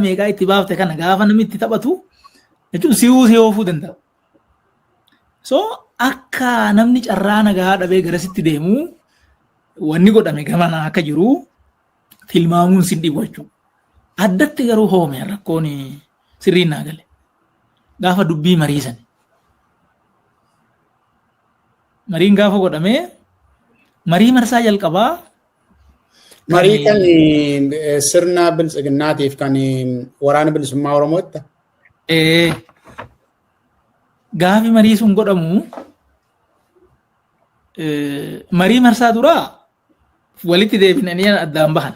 meeqaa itti baafte kana gaafa namni itti taphatu jechuun si'uu si oofuu danda'a. So akka namni carraa nagaa dhabee garasitti deemu wanni godhame gamana akka jiru tilmaamuun sin dhibu jechuudha. Addatti garuu hoome rakkoon sirriin naa gale. Gaafa dubbii mariisan. Mariin gaafa godhamee marii marsaa jalqabaa Marii kan sirna biltsiginnaatiif kan waraana bilisummaa Oromootti. Gaafi marii sun godhamu marii marsaa duraa walitti deebinanii addaan bahan.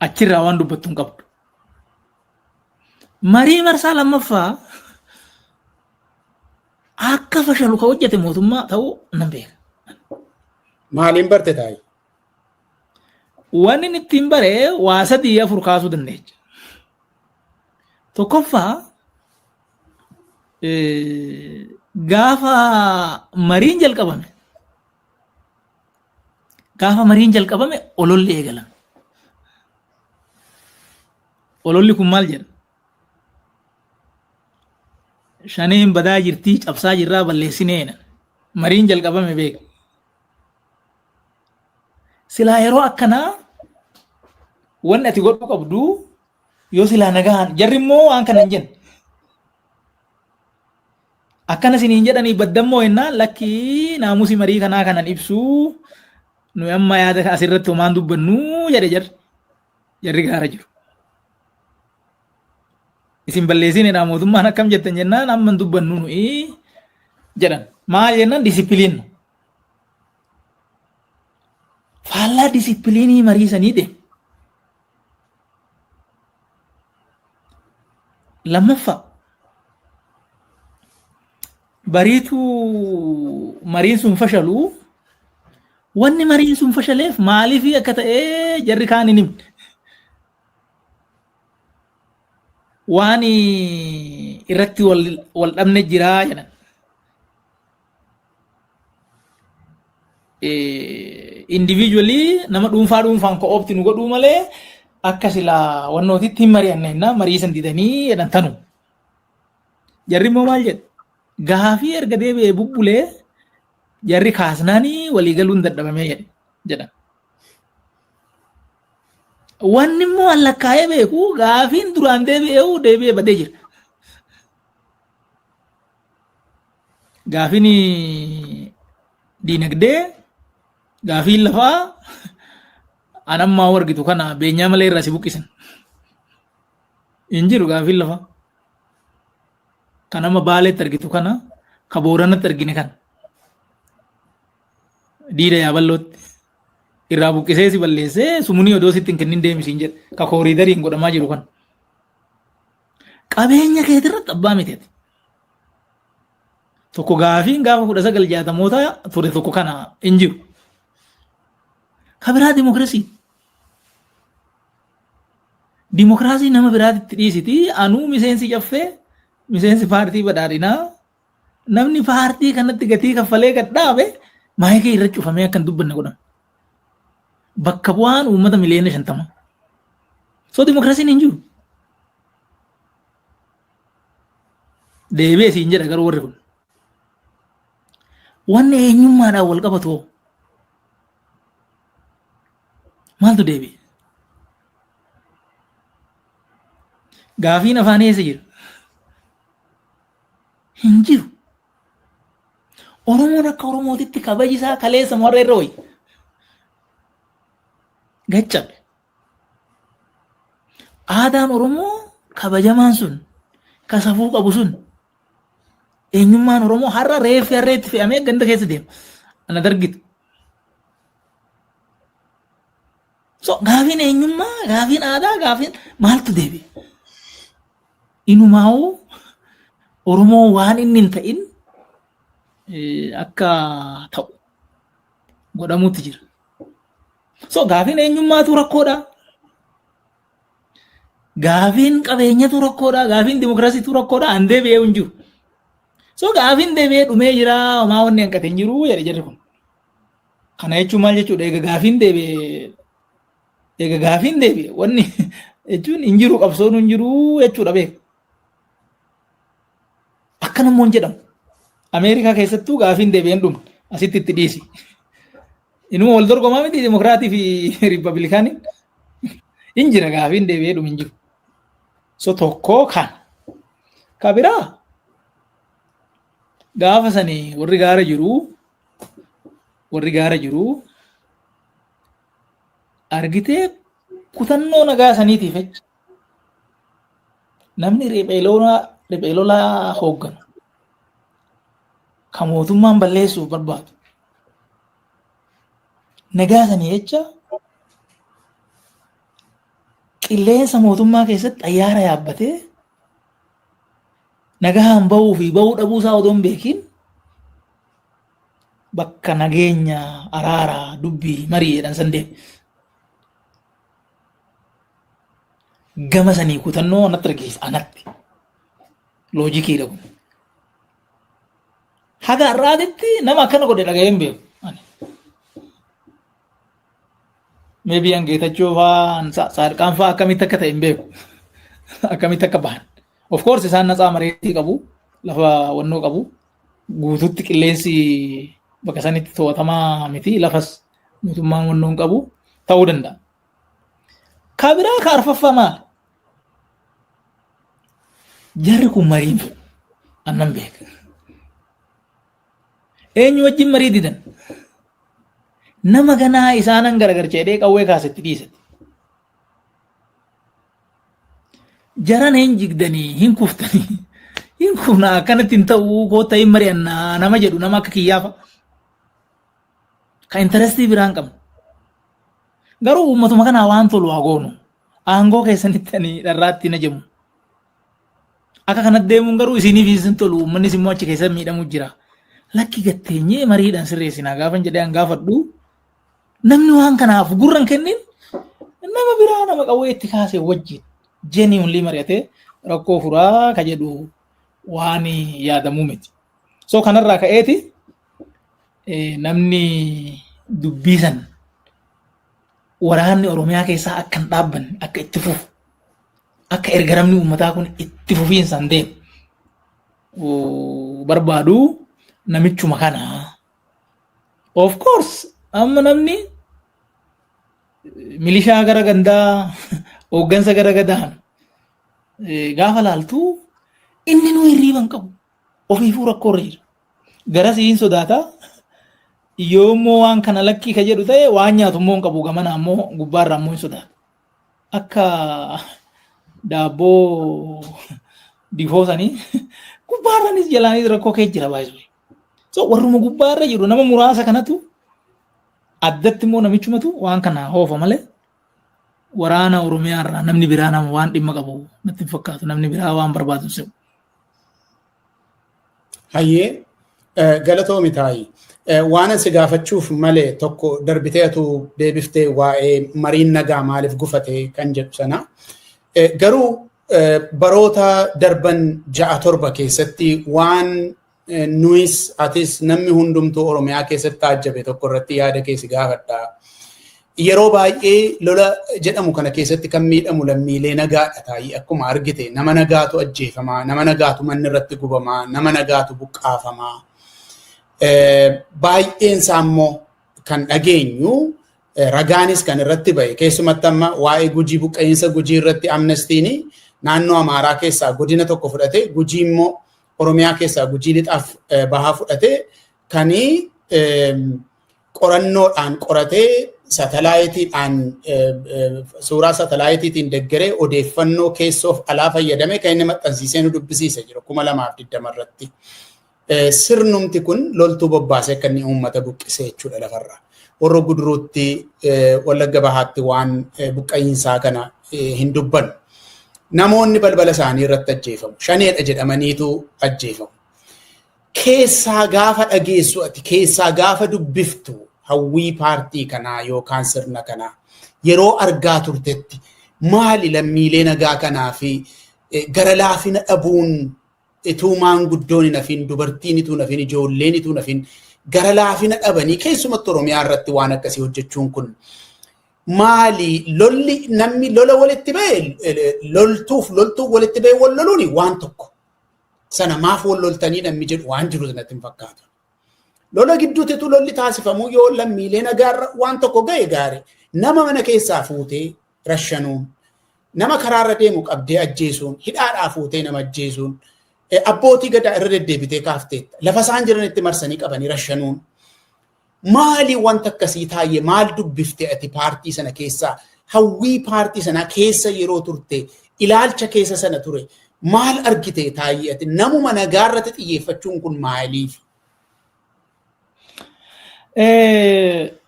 Achirraa waan dubbattu hin qabdu. Marii marsaa lammaffaa Akka fashalu ka hojjete mootummaa ta'uu nan beeka. Maaliin barte taa'e? Wanni inni ittiin bare waa sadii afur kaasuu dandeecha. Tokkoffaa eh, gaafa mariin jalqabame gaafa mariin jalqabame ololli eegalame. Ololli kun maal jedha? shaneen badaa jirtii cabsaa jirraa balleessineena mariin jalqabame beeka silaa yeroo akkanaa wanni ati godhuu qabdu yoo silaa nagaan jarri immoo waan kana hin jenne akkana isiniin jedhanii baddammoo jennaan lakkii naamusi marii kanaa kanan ibsuu nu amma yaada asirratti homaan dubbannuu jedhe jarri jarri gaara jiru. isin balleessineedha mootummaan akkam jettan jennaan amma hin dubbannu nuyi jedhan maal jennaan disipiliin faallaa disipiliinii mariisanii deemu. Lammaffaa bariituu mariin sun fashaluu wanni mariin sun fashaleef maaliif akka ta'e jarri kaan hin himne. waan irratti wal dhabne jiraa jedhan. Individually nama dhuunfaa dhuunfaan ko'oopti nu godhuu malee akka silaa wannootitti hin mari'anne innaa marii san didanii jedhan tanu. Jarri immoo maal jedhu? Gaafii erga deebi'ee bubbulee jarri kaasnaanii waliigaluun dadhabamee jedhan. Wanni immoo an lakkaa'ee beeku gaafiin duraan deebi'ee deebi'ee badee jira. Gaafiin diinagdee, gaafiin lafaa an ammaa argitu kana beenyaa malee irraa si buqqisan. Hin jiru gaafiin lafaa. Kan amma baaleetti argitu kana, ka booranatti argine kana. Diida yaaballootti. irraa buqqisee si balleessee sumunii odoo sitti hin kennin deemi siin jedhe ka kooriidariin godhamaa jiru kan qabeenya keeti irratti abbaa miteeti. Tokko gaafiin gaafa kudha sagal jaatamoota ture tokko kana hin jiru. Ka biraa dimokiraasii. Dimokiraasii nama biraatitti dhiisiti anuu miseensi caffee miseensi paartii badhaadhinaa Namni paartii kanatti gatii kaffalee gad dhaabe maayikii irra cufamee akka hin dubbanne godhama. Bakka bu'aan uummata miliyoona shantama. So dimokiraasiin hin jiru. Deebi'ee siin jedha garuu warri kun. Wanni eenyummaadhaan wal qabatu hoo? Maaltu deebi'e? Gaafiin afaan eessa jira? Hin jiru. Oromoon akka Oromootitti kabaji isaa kaleessa warra irra wayya. Gaccabe. Aadaan Oromoo kabajamaan sun ka safuu qabu sun eenyummaan Oromoo har'a reeffi harreetti fe'amee ganda keessa deema. Ana dargita. So gaafiin eenyummaa, gaafiin aadaa, gaafiin maaltu deebi'e? Inumaa'uu Oromoo waan inni hin ta'in akka ta'u godhamuutti jira. So gaafiin eenyummaatu rakkoodha. Gaafiin qabeenyatu rakkoodha. Gaafiin dimokiraasiitu rakkoodha. An deebi'ee hin jiru. So gaafiin deebi'ee dhumee jira. Homaa wanni hanqate hin jiru jedhe jirri kun. Kana jechuun maal jechuudha? Egaa gaafiin deebi'e egaa gaafiin deebi'e wanni jechuun hin jiru qabsoon hin jiru jechuudha beeku. Akka namoonni jedhamu. Ameerikaa keessattuu gaafiin deebi'een dhumne asitti itti dhiisi. Inuma wal dorgomaa miti dimokiraatii fi riippablikaaniin hin jira gaafiin deebi'ee dhumu hin jiru. So tokkoo kan. Ka biraa gaafa sanii warri gaara jiru warri gaara jiru argitee kutannoo nagaa saniitiif jecha namni riphee lolaa riphee lolaa hoogganu kan mootummaan balleessuuf barbaadu nagaa sanii jecha qilleensa mootummaa keessatti xayyaara yaabbatee nagaan bahuu fi bahuu dhabuu isaa odoo hin beekin bakka nageenya araara dubbii marii jedhan san deeme. Gama sanii kutannoo anatti argisiisa anatti. Loojikiidha kun. Haga har'aatitti nama akkana godhe dhaga'ee hin beeku. Meebii an geetachoo fa'aan saadqaan fa'aa akkamitti akka ta'e hin beeku. Akkamitti akka bahan. Of course isaan natsaa mareetii qabu. Lafa wannoo qabu. guututti qilleensi bakka sanitti to'atamaa miti lafas mootummaan wannoo hin qabu ta'uu danda'a. Ka biraa ka arfaffaa maal? Jarri kun mariin annan beeka. Eenyu wajjin marii didan? Nama ganaa isaanan garagarcheedhee qawwee kaasetti dhiisatti. Jarana hin jigdanii hin kuftanii hin kufnaa akkanatti hin ta'uu goota hin mari'annaa nama jedhu nama akka kiyyaafa. Kan intarestii biraan qabu. Garuu uummatuma kanaa waan tolu haa goonu. Aangoo keessanitti ani dharraatti na jemu. Akka kanatti deemuun garuu isiniif isin tolu uummannis immoo achi keessa miidhamu jira. Lakki gatteenyee mariidhaan sirreessinaa gaafan jedhee an gaafadhu Namni waan kanaaf gurra hin kennin nama biraa nama qawwee itti kaasee wajjin genuinely mari'atee rakkoo furaa ka jedhu waan yaadamuu miti. So kanarraa ka'eeti eh, namni dubbiisan waraanni Oromiyaa keessaa akka hin dhaabbanne akka itti fufu akka ergaramni uummataa kun itti fufiinsaan deemu oo, barbaadu namichuma kana Of course amma namni milishaa gara gandaa hooggansa gara gadaan gaafa laaltu inni nu hirriiba hin qabu ofiifuu rakkoo irra jira. Garas hin sodaata yoo immoo waan kana lakkii ka jedhu ta'e waan nyaatu immoo hin qabu gamana ammoo gubbaarra ammoo hin sodaata. Akka daabboo difoo sanii gubbaarranis jalaanis rakkoo kee jira baay'ee. So warruma gubbaa irra jiru nama muraasa kanatu addatti immoo namichumatu waan kana hoofa malee waraana Oromiyaa irraa namni biraa nama waan dhimma qabu natti hin fakkaatu namni biraa waan barbaadu hin se'u. Hayyee eh, galatoomi taa'i. Eh, Waan asi gaafachuuf malee tokko darbiteetu deebiftee waa'ee mariin nagaa maaliif gufate kan jedhu sana. Eh, Garuu eh, baroota darban ja'a torba keessatti waan Nuyis atis namni hundumtuu Oromiyaa keessatti taajjabe tokko irratti yaada kee si gaafadha. Yeroo baay'ee lola jedhamu kana keessatti kan miidhamu lammiilee nagaadha taa'ii akkuma argite nama nagaatu ajjeefamaa, nama nagaatu manni irratti gubamaa, nama nagaatu buqqaafamaa. Baay'een isaa immoo kan dhageenyu ragaanis kan irratti ba'e keessumatti amma waa'ee gujii buqqa'iinsa gujii irratti amnestiin naannoo amaaraa keessaa godina tokko fudhate gujii immoo Oromiyaa keessaa Gujii Lixaaf bahaa fudhatee kan qorannoodhaan qoratee satalaayitiidhaan suuraa satalaayitiitiin deggeree odeeffannoo keessoof alaa fayyadame kan inni maxxansiisee nu dubbisiise jiru kuma lamaaf digdama irratti. Sirnumti kun loltuu bobbaasee akka inni uummata buqqisee jechuudha lafarraa. Horroo Guduruutti Wallagga Bahaatti waan buqqa'iinsaa kana hin dubbannu. Namoonni balbala isaanii irratti ajjeefamu. Shaneedha jedhamaniitu ajjeefamu. Keessaa gaafa dhageessu ati keessaa gaafa dubbiftu hawwii paartii kanaa yookaan sirna kanaa yeroo argaa turtetti maali lammiilee nagaa kanaa fi gara laafina dhabuun ituu maanguddoon hin hafiin dubartiin ituu hin hafiin ijoolleen ituu hin hafiin gara laafina dhabanii keessumatti Oromiyaa irratti waan akkasii hojjechuun kun maali lolli namni lola walitti ba'e loltuuf loltuuf walitti ba'e wal loluuni waan tokko sana maaf wal loltanii namni jedhu waan jiru natti hin fakkaatu. Lola gidduutti utuu lolli taasifamu yoo lammiilee nagaarra waan tokko ga'e gaari nama mana keessaa fuutee rashanuun, nama karaarra deemu qabdee ajjeesuun, hidhaadhaa fuutee nama ajjeesuun, abbootii gadaa irra deddeebitee kaafteetta. Lafa isaan jiranitti marsanii qabanii rashanuun. Maali wanta akkasii taayye maal dubbifte ati paartii sana keessaa hawwii paartii sanaa keessa yeroo turte ilaalcha keessa sana ture maal argite taayye ati namuma nagaa irratti xiyyeeffachuun kun maaliif?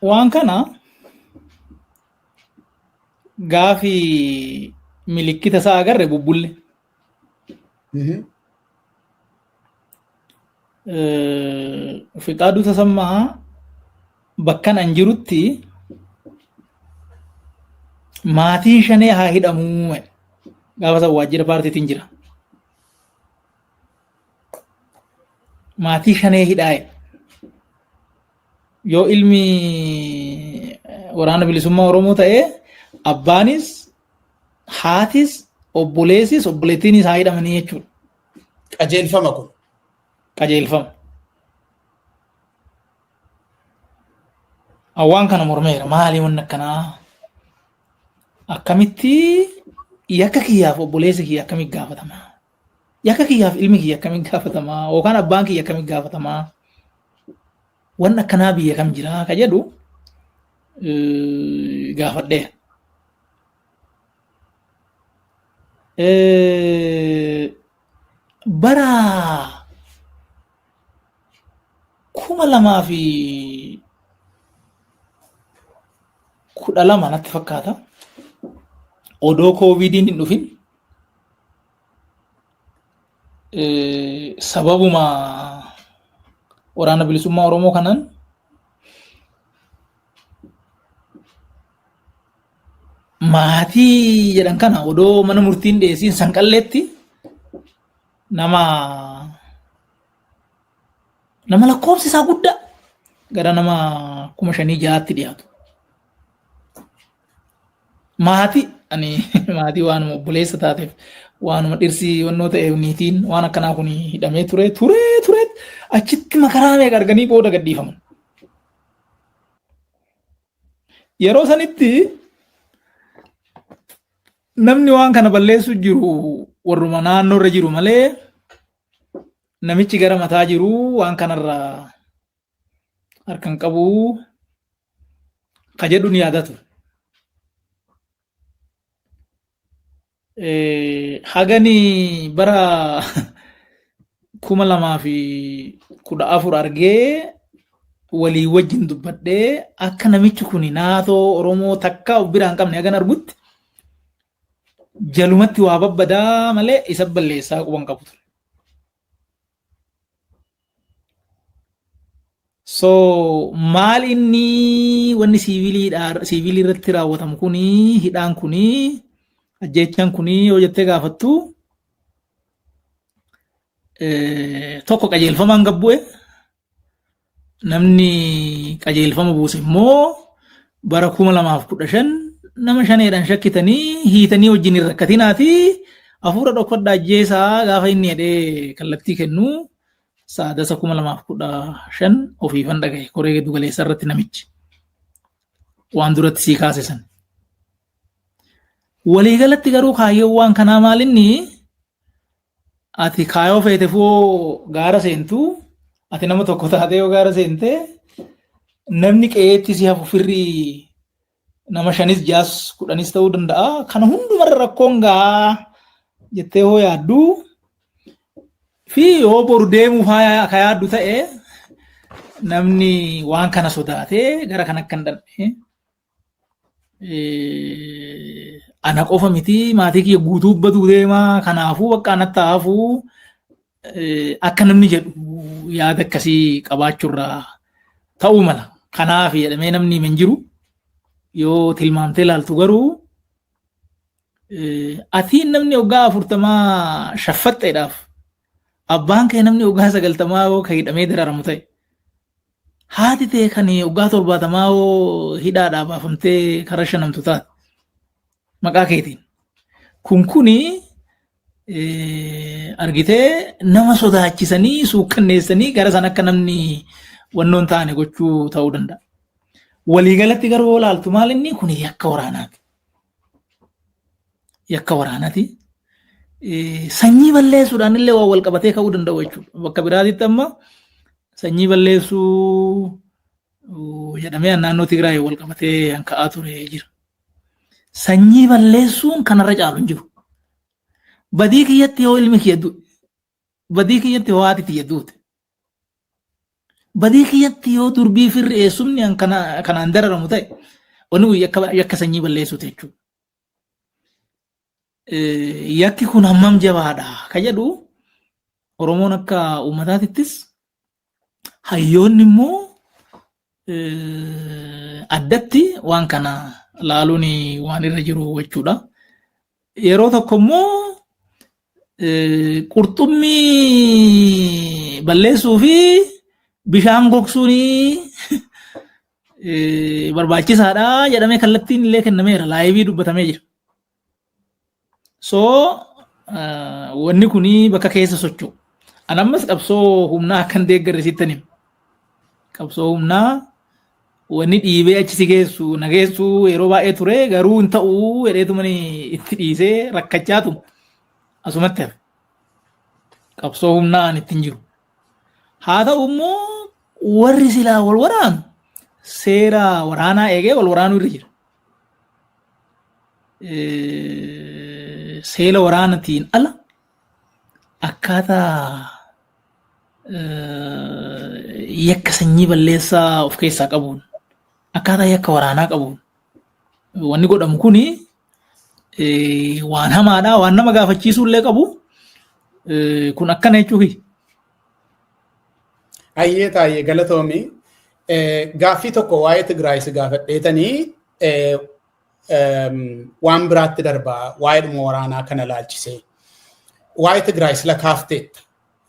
Waan kana gaafi milikkita isaa agarre bubbulle. Mhm. Eh, Fiqaaduu Tasammaa bakkan an jirutti maatiin shanee haa hidhamuu jedhe. gaafa san waajjira paartiitiin jira. Maatii shanee hidhaa jedhe. Yoo ilmi waraana bilisummaa Oromoo ta'e abbaanis haatis obboleessis obboleettiinis haa hidhamanii jechuudha. Qajeelfama kun. Qajeelfama. Waan kana mormeera maali wanni akkanaa akkamitti yakka kiyyaaf obboleessi kiyya akkamitti gaafatama Yakka kiyyaaf ilmi kiyya akkamiin gaafatamaa yookaan abbaan kiyya akkamiin gaafatamaa waan akkanaa biyya kam jiraa ka jedhu gaafadhee. Bara kuma lamaa fi kudha lama natti fakkaata. Odoo kooviidiin hin dhufin Eh, sababuma waraana bilisummaa Oromoo kanaan maatii jedhan kana odoo mana murtiin dhiyeessiin sanqalleetti nama nama lakkoofsi isaa guddaa gara nama kuma shanii jahaatti dhiyaatu. Maatii ani maatii waanuma obboleessa taateef waanuma dhirsi wannoo ta'eef niitiin waan akkanaa kun hidhamee ture ture ture achitti makaraa meeqa arganii booda gadhiifaman. Yeroo sanitti namni waan kana balleessu jiru warruma naannoo irra jiru malee namichi gara mataa jiru waan kanarraa harkan qabuu ka jedhu ni yaadaa ture. Hagani bara kuma lamaa fi kudha afur argee walii wajjin dubbadhee akka namichi kun naatoo Oromoo takka of biraan qabne hagan argutti jalumatti waa babbadaa malee isa balleessaa quban qabu ture. So maal inni wanni siiviliidhaa siivilii irratti raawwatamu kuni hidhaan kuni ajjeechaan kuni yoo jettee gaafattu eh, tokko qajeelfamaan gabbu'e namni qajeelfama buuse immoo bara 2015 nama shaneedhaan shakkitanii hiitanii wajjin hin rakkatinaati hafuura dhokfadha ajjeesaa gaafa inni jedhee kallattii kennu saadasa 2015 ofiifan dhagahe koree giddu galeessaa irratti namichi waan duratti sii kaase san. Waliigalatti garuu kaayyoowwan kanaa maalinni Ati kaayoo feeteef yoo gaara seentu, ati nama tokko taatee yoo gaara seente, namni qe'eetti si hafu firri nama shanis jaas kudhanis ta'uu danda'a. Kana hundumarra rakkoon gahaa jettee hoo yaaddu fi yoo boru deemuuf haa- akka yaaddu ta'e namni waan kana sodaatee gara kan akka hin dhandhe ana qofa miti maatii kiyya guutuu baduu deemaa kanaafuu bakka anatti haafuu akka namni jedhu yaada akkasii qabaachuurraa ta'uu mala. Kanaaf jedhamee namni hin jiru yoo tilmaamtee ilaaltu garuu atiin namni waggaa afurtamaa shaffaxxeedhaaf abbaan kee namni waggaa sagaltamaa yoo ka hidhamee dararamu ta'e Haati tee kan waggaa torbaatamaa hoo hidhaadhaa baafamtee karaa shanamtu taate maqaa keetiin. Kun kuni argitee nama sodaachisanii suukkanneessanii gara san akka namni wannoon taane gochuu ta'uu danda'a. Waliigalatti garuu yoo ilaaltu maal inni kun yakka waraanaati. yakka waraanati. Sanyii balleessuudhaan illee waan wal qabatee ka'uu danda'u jechuudha. Bakka biraatitti amma sanyii balleessuu jedhamee naannoo Tigraay wal qabatee kan ka'aa ture jira. Sanyii balleessuun kanarra caalu hin jiru. Badii kiyyatti yoo ilmi kiyya du'e, badii kiyyatti yoo haati tiyya duute, badii kiyyatti yoo durbii firri eessumni kanaan dararamu ta'e, wanni kun yakka sanyii balleessuuti jechuudha. yakki kun hammam jabaadha ka jedhu Oromoon akka uummataatittis hayyoonni immoo addatti waan kana laaluun waan irra jiru jechuudha. Yeroo tokko immoo qurxummii balleessuu fi bishaan gogsuun barbaachisaadha jedhamee kallattiin illee kennameera laayivii dubbatamee jira. So wanni kun bakka keessa socho'u. An ammas qabsoo humnaa akkan deeggarre siittan hima. Qabsoo humnaa Wanni dhiibee achi si geessu na geessu yeroo baay'ee ture garuu hin ta'u jedheetumani itti dhiisee rakkachaatu asumatti hafe. Qabsoo humnaa ani ittiin jiru. Haa ta'u immoo warri silaa wal waraanu seera waraanaa eegee wal waraanuu irra jira. Seera waraanatiin ala akkaataa yakka sanyii balleessaa of keessaa qabuun akkaataa yakka waraanaa qabuun wanni godhamu kun waan hamaadha waan nama gaafachiisuu illee qabu kun akkana jechuufi. Ayyee taayee galatoomi gaaffii tokko waa'ee Tigraay si gaafadheetanii waan biraatti darbaa waa'ee dhuma waraanaa kana laalchisee waa'ee Tigraay sila kaafteetta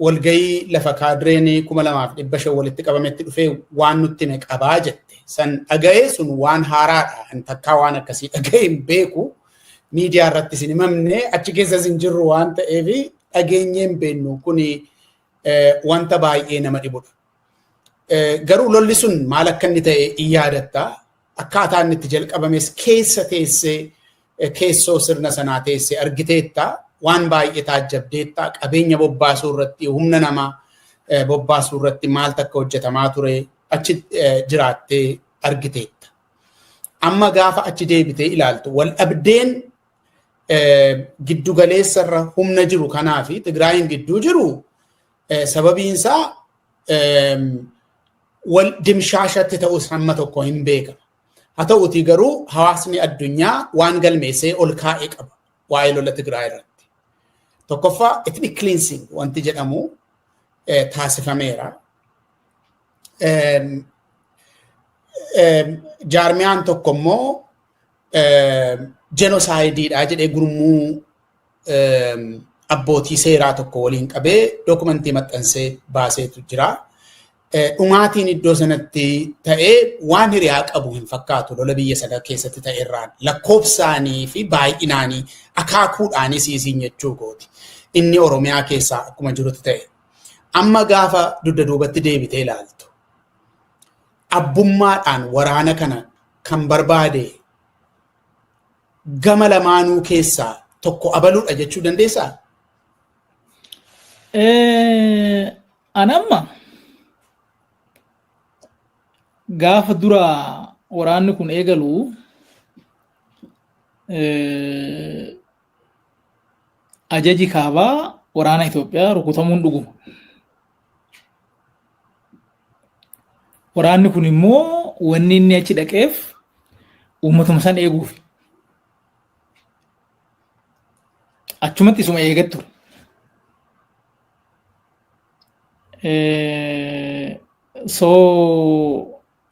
walgayii lafa kaadireen kuma lamaaf dhibba shan walitti qabametti dhufee waan nutti hime qabaa jette san dhaga'ee sun waan haaraadha an takkaa waan akkasii dhaga'ee hin beeku miidiyaa irratti isin himamne achi keessas hin jirru waan ta'eef dhageenyee hin beennu kuni wanta baay'ee nama dhibudha. Garuu lolli sun maal akka inni ta'e in yaadatta. Akkaataa inni itti jalqabames keessa teessee keessoo sirna sanaa teessee argiteetta. Waan baay'ee taajjabdeetta. Qabeenya bobbaasuu irratti humna namaa bobbaasuu irratti maaltu akka hojjetamaa ture achi jiraattee argiteetta. Amma gaafa achi deebitee ilaaltu wal dhabdeen giddu galeessarra humna jiru kanaa fi Tigraayiin gidduu jiru Sababiin isaa wal dimshaashatti ta'us hamma tokko hin beekama. Haa ta'uutii garuu hawaasni addunyaa waan galmeessee ol kaa'e qaba waa'ee lola Tigraay irratti. Tokkoffaa ethnic cleansing wanti jedhamu taasifameera. Jaarmiyaan tokko immoo jenosaayidii jedhee gurmuu abbootii seeraa tokko waliin qabee dookumentii maxxansee baaseetu jira. Dhumaatiin iddoo sanatti ta'ee waan hiriyaa qabu hin fakkaatu lola biyya sana keessatti ta'e irraan lakkoofsaanii fi baay'inaanii akaakuudhaanis isiin jechuu kooti. Inni Oromiyaa keessaa akkuma jirutti ta'e. Amma gaafa dugda duubatti deebitee ilaaltu. Abbummaadhaan waraana kana kan barbaade gama lamaanuu keessaa tokko abaluudha jechuu dandeessaa? Anamma gaafa dura waraanni kun eegalu ajaji kaabaa waraana Itoophiyaa rukutamuun dhuguma. Waraanni kun immoo wanni inni achi dhaqeef uummatuma san eeguuf. Achumatti isuma eegaa ture. So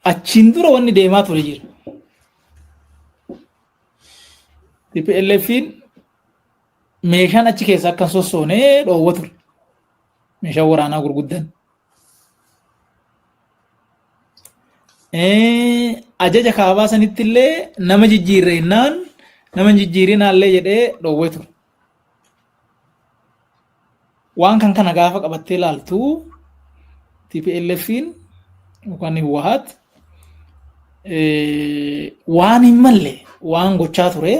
achiin dura wanni deemaa ture jira. TPLFiin meeshaan achi keessa akka hin sossoone dhoowwa ture. Meeshaa waraanaa gurguddan. Ajaja kaabaa sanitti illee nama jijjiirre innaan nama hin jijjiirinaallee jedhee dhoowwee ture. Waan kan kana gaafa qabattee ilaaltu TPLFiin yookaan Hiwahaat waan hin malle waan gochaa ture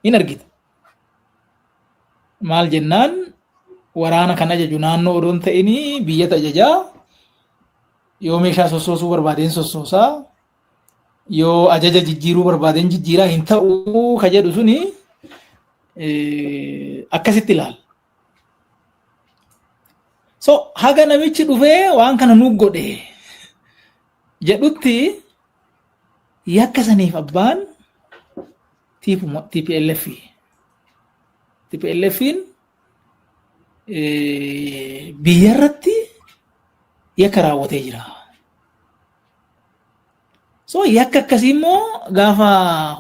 hin argita. maal jennaan waraana kan ajaju naannoo odoo hin ta'in biyyata ajajaa yoo meeshaa sossoosuu barbaadeen sossoosaa yoo ajaja jijjiiruu barbaadeen jijjiiraa hin ta'u ka jedhu suni akkasitti ilaala. So haga namichi dhufee waan kana nuuf godhe jedhutti yakka saniif abbaan TPLF TPLFin biyya irratti yakka raawwatee jira. So yakka akkasii immoo gaafa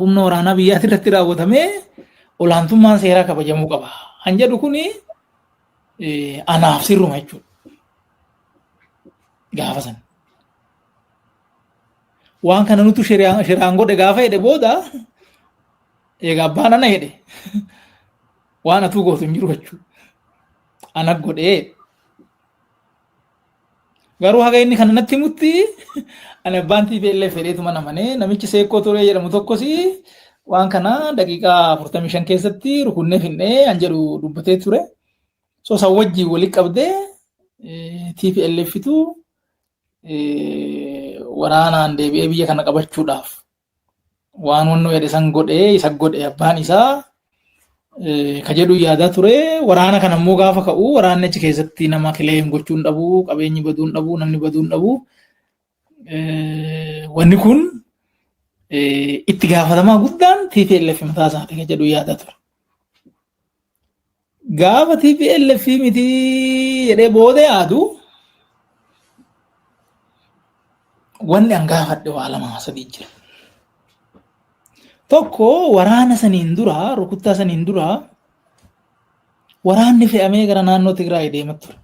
humna waraanaa biyyaati irratti raawwatamee olaantummaan seeraa kabajamuu qaba. Kan jedhu kuni anaaf sirruma jechuudha. Gaafa sana. waan kana nutu shiraan shiraan godhe gaafa jedhe booda egaa abbaan ana jedhe waan atuu gootu hin jiru jechuu ana godhee garuu haga inni kana natti himutti ani abbaan TPLF fedheetu mana manee namichi seekkoo turee jedhamu tokkos waan kana daqiiqaa afurtamii shan keessatti rukunnee finnee an jedhu dubbatee ture so san wajjin walitti qabdee TPLFitu waraanaan deebi'ee biyya kana qabachuudhaaf waan wanno jedhe san godhee isa godhe abbaan isaa ka jedhu yaadaa ture waraana kana immoo gaafa ka'u waraanni achi keessatti nama kileem gochuu hin dhabu qabeenyi baduu hin dhabu namni baduu hin dhabu wanni kun itti gaafatamaa guddaan TPLF mataa isaati ka jedhu yaadaa ture. Gaafa TPLF miti jedhee booda yaadu wanni an gaafadhe waa lama sadii jira. Tokko waraana saniin dura rukuttaa saniin dura waraanni fe'amee gara naannoo Tigraay deemaa ture.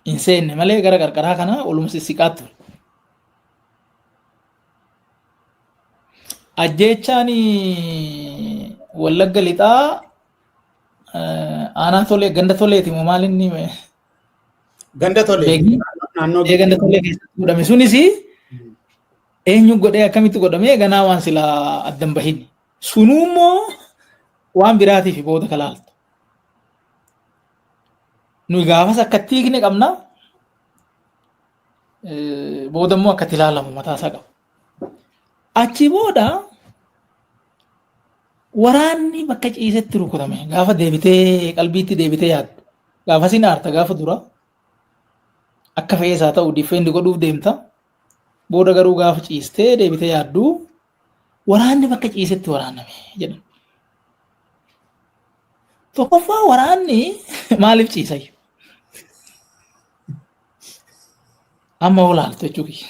Hin seenne malee gara qarqaraa kana olumsi siqaa ture. Ajjeechaan Wallagga Lixaa aanaa tolee ganda toleeti moo maal inni Ganda tolee. Beekni? Naannoo Ee, ganda tolee keessatti godhame sunis eenyu godhee akkamitti godhame ganaa waan silaa addan bahin sunuu immoo waan biraatiif booda kalaaltu nuyi gaafas akkatti hiikne qabna booda immoo akkatti ilaalamu mataasaa qaba. Achi booda waraanni bakka ciisetti rukutame gaafa deebitee qalbiitti deebitee yaaddu gaafa sin aarta gaafa dura akka fe'ees haa ta'u diffeendi godhuuf deemta booda garuu gaafa ciistee deebitee yaaddu waraanni bakka ciisetti waraaname jedhan. Tokkoffaa waraanni maaliif ciisayyu? Amma olaaltu jechuu kiyya.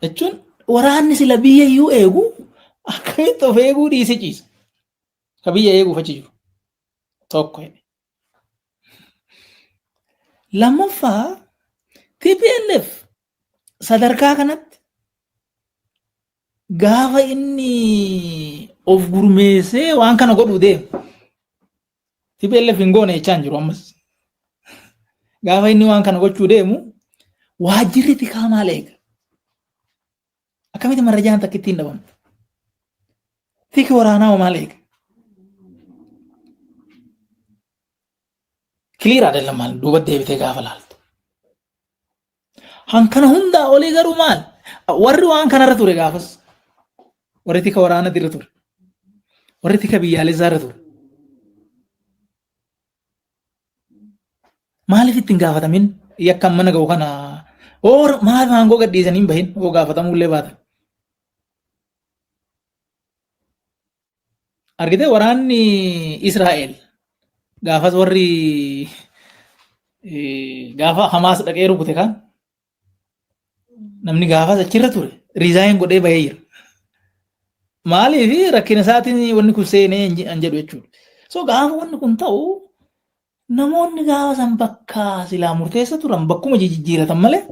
Jechuun waraanni sila biyya iyyuu eegu akkamitti of eeguu dhiisee ciisa. Ka biyya eeguuf achi jiru. Tokko jedhe. Lammaffaa TPLF sadarkaa kanatti gaafa inni of gurmeessee waan kana godhuu deemu. TPLF hin goone jechaa hin jiru ammas. Gaafa inni waan kana gochuu deemu waajjirri tikaa maal eega? Akkamitti marrajaan takka ittiin dhabamtu? Tiki waraanaa hoo maal eega? Kiliir adeeman maal duuba deebitee gaafa laaltu. Han kana hundaa olii garuu maal? Warri waan kanarra ture gaafas. Warri tika waraanatti irra ture. Warri tika biyyaalessaa irra ture. Maaliif ittiin gaafatamin yakkan mana ga'u kana oor maal maangoo gadhiisanii hin bahin oo gaafatamuu illee baatan. Argitee waraanni Israa'el gaafas warri gaafa Hamaas dhaqee rukute kan namni gaafas achirra ture riizaayin godhee bahee jira. Maaliif rakkina isaatiin wanni kun seenee hin jedhu jechuudha. So gaafa wanni kun ta'u namoonni gaafa san bakka silaa murteessa turan bakkuma jijjiiratan malee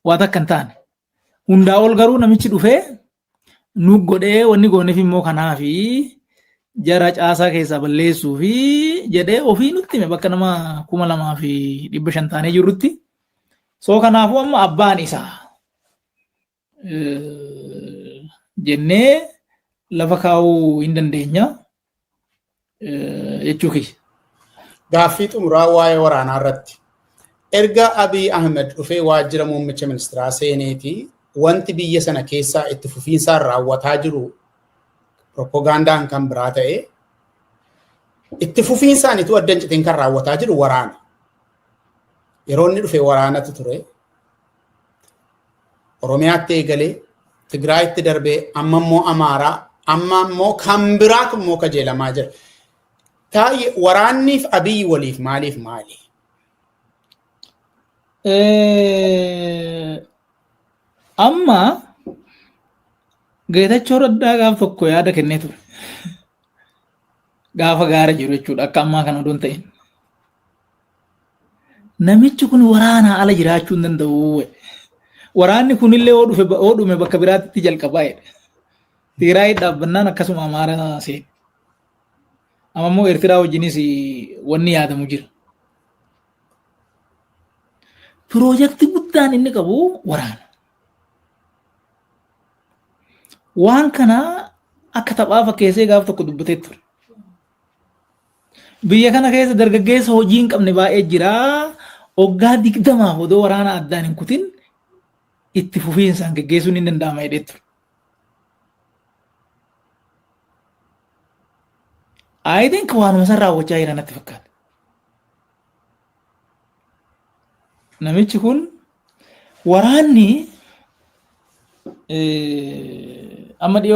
waa takka hin taane. Hundaa ol garuu namichi dhufee nu godhee wanni gooneef immoo kanaa fi jara caasaa keessaa balleessuu fi jedhee ofii nutti hime bakka nama kuma lamaa fi dhibba shan taanee jirrutti. Soo kanaafuu amma abbaan isaa jennee lafa kaa'uu hin dandeenya. jechuu kiyya. Gaaffii xumuraa waa'ee waraanaa irratti. Erga Abiy Ahmed dhufee waajjira muummicha ministeeraa seeneeti wanti biyya sana keessaa itti fufiinsaan raawwataa jiru propagandaan kan biraa ta'e itti fufiinsaan ituu adda hin citin kan raawwataa jiru waraana. Yeroo inni dhufe waraanatu ture. Oromiyaatti eegalee Tigraayitti darbee amma immoo Amaaraa amma immoo kan biraatu immoo kajeelamaa jira. Taayye waraanniif abiyyi waliif maaliif maali? Amma Geetachoo Raddaa gaaf tokko yaada kennee ture. Gaafa gaara jiru jechuudha akka ammaa kana odoo hin ta'in. Namichi kun waraanaa ala jiraachuu hin danda'u. Waraanni kunillee yoo dhufe yoo dhume bakka biraatti jalqabaa jedhe. Tigraay dhaabbannaan akkasuma Amaaraa seene. Amma immoo Eertiraa wajjinis wanni yaadamu jira. Piroojeektii guddaan inni qabu waraana. Waan kana akka taphaa fakkeessee gaaf tokko dubbatee ture. Biyya kana keessa dargaggeessa hojii hin qabne baay'ee jira. Oggaa digdamaaf odoo waraana addaan hin kutin itti fufiinsaan geggeessuun hin danda'ama jedhee ture. I think waanuma san raawwachaa jira natti fakkaata. Namichi kun waraanni amma dhiyoo